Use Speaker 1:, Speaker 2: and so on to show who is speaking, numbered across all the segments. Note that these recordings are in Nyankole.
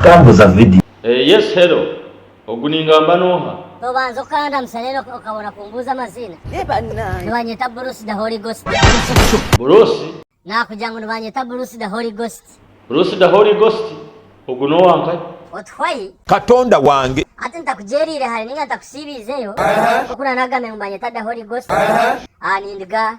Speaker 1: Tambuza vidiyo. Eh yes hello
Speaker 2: ogu ningamba noha. Nobanza okandamutsa
Speaker 3: then okabona kumbuuza amaziina? Nibanyeta Bruce the Holy Ghost. Buruusi.
Speaker 2: Nakugira ngu
Speaker 3: nibanyeta Bruce the Holy Ghost. Bruce the Holy
Speaker 2: Ghost ogu nowankaye. Otuhwayi.
Speaker 3: Katonda wange.
Speaker 1: Hati ntakugyereire
Speaker 3: hare ninga ntakusiibiizeyo, nk'oku naanagamire ngu nibanyeta the Holy Ghost, ah nindiga.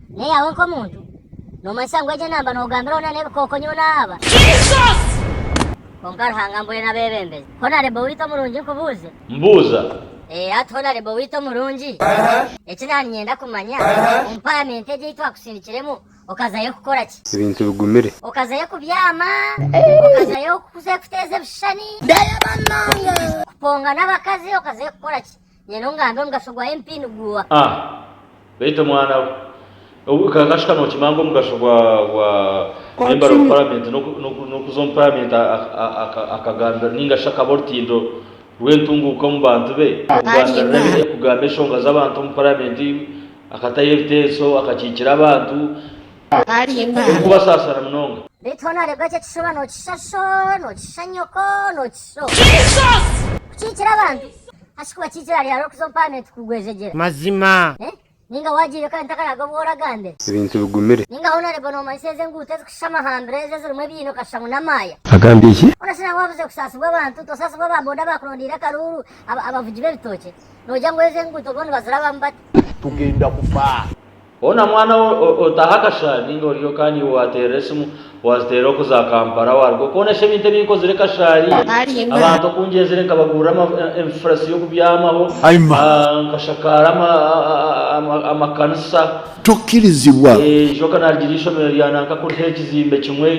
Speaker 3: N'eyaawe nk'omuntu? Noomanyisa ngu egyo namba noogambiraho na n'ebikooko nyowe naahaba? Kwonka Ruhanga mbwenu abeebembezi. Hona Rebo waitu omurungi nkubuuze. Mbuuza.
Speaker 2: Ee, hati hona Rebo waitu omurungi.
Speaker 3: Eki naha niinyenda kumanya, omu paramenti egi ei twakusindikiremu, okazayo kukora ki? Ebintu bigumire.
Speaker 4: Okazayo kubyama?
Speaker 3: Okazayo kuza kuteeza ebishushani? Kupongana abakazi? Okazayo kukora ki? Nyowe ngambire omugasho gwa MP niguha. A,
Speaker 2: Beitu mwana we, obwe kakashuka nokimanya ngu omugasho gwa gwa Member of Parliament noku nokuza omu Parliament a a a akagambira ninga shi akaba orutindo rwentunguka omu bantu be, okugambirira ebi okugamba enshonga zabantu omu Parliament, akatayo ebitenso, akakikira abantu, okubasasana munonga. Beitu hoona warebwa ekyo ekishuba nokisha sho, nokisha
Speaker 3: nyoko, nokisha o. Kukikira abantu Ashiki wakiija orareba hariho kuza omuparamenti kugwejegyera. Mazima.
Speaker 5: Ninga wagiire
Speaker 3: kare ntakaraga obworo agambe. Ebintu bigumire. Ninga
Speaker 4: hoona orebe nomanyisa
Speaker 3: ezo enguuto ezikushishama hambere ezo ezirimu ebiina okashusha ngu n'amaaya. Agambye ki? Hoona shi
Speaker 4: nangwa wabuze kusaasibwa
Speaker 3: abantu? Tosaasibwa aba boda abakurondiire akaruuru, abavugi b'ebitookye. Nogira ngu ezo enguuto boona nibazirabamu bata? Tugenda kufa.
Speaker 1: Hoona mwana
Speaker 2: we otaaha akashaari ninga oriyo kandi iwe waateerera esimu waaziteerera okuza Kampala waaruga okwonesha ebintu ebi nkozire kashaari abantu oku ngyenzire nkabagurira enfurasi y'okubyamaho nkashakaara amakanisa eijoka
Speaker 1: naarigira
Speaker 2: eishomero rya nanka kuriho ekizimbe kimwe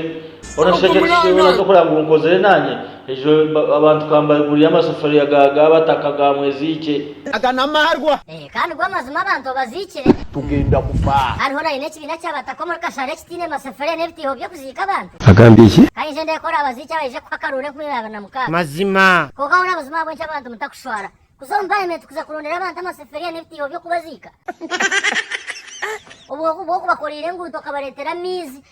Speaker 2: hoona shweta ekyo kyona tokureba ngu nkozire naanye Ejo abantu ka mbaigurire amasefuriya ga ga bataka ga mweziikye. Aga n'amaarwa.
Speaker 1: Ee, kandi go amazima
Speaker 3: abantu abaziikire. Tugenda kufa.
Speaker 1: Kandi hona haine ekibiina
Speaker 3: ky'abataka omuri Kashare ekitaine masefuriya n'ebitaiho by'okuziika abantu. Agambire ki? Ka nyije
Speaker 4: ndekore abaziiki
Speaker 3: abaije kuha akaruuru enkumi abiri na mukaaga. Mazima. Kwonka hona
Speaker 5: buzima ahabw'enki
Speaker 3: abantu mutakushwara kuza omu Palementi kuza kurondera abantu amasefuriya n'ebitaiho by'okubaziika? Obwo ku bw'okubakoreire enguuto okabareetera amaizi,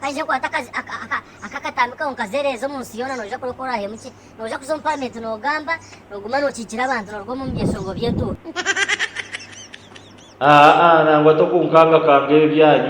Speaker 3: Haija kwata akatambi kawe nkazereeza omu nsi yoona noija kureka orahemu ki? Noija kuza omu paramenti nogamba noguma nokiikira abantu noruga omu byeshongo
Speaker 2: by'entuura. Aa
Speaker 3: nangwa
Speaker 2: tokunkangakanga ebyanyu.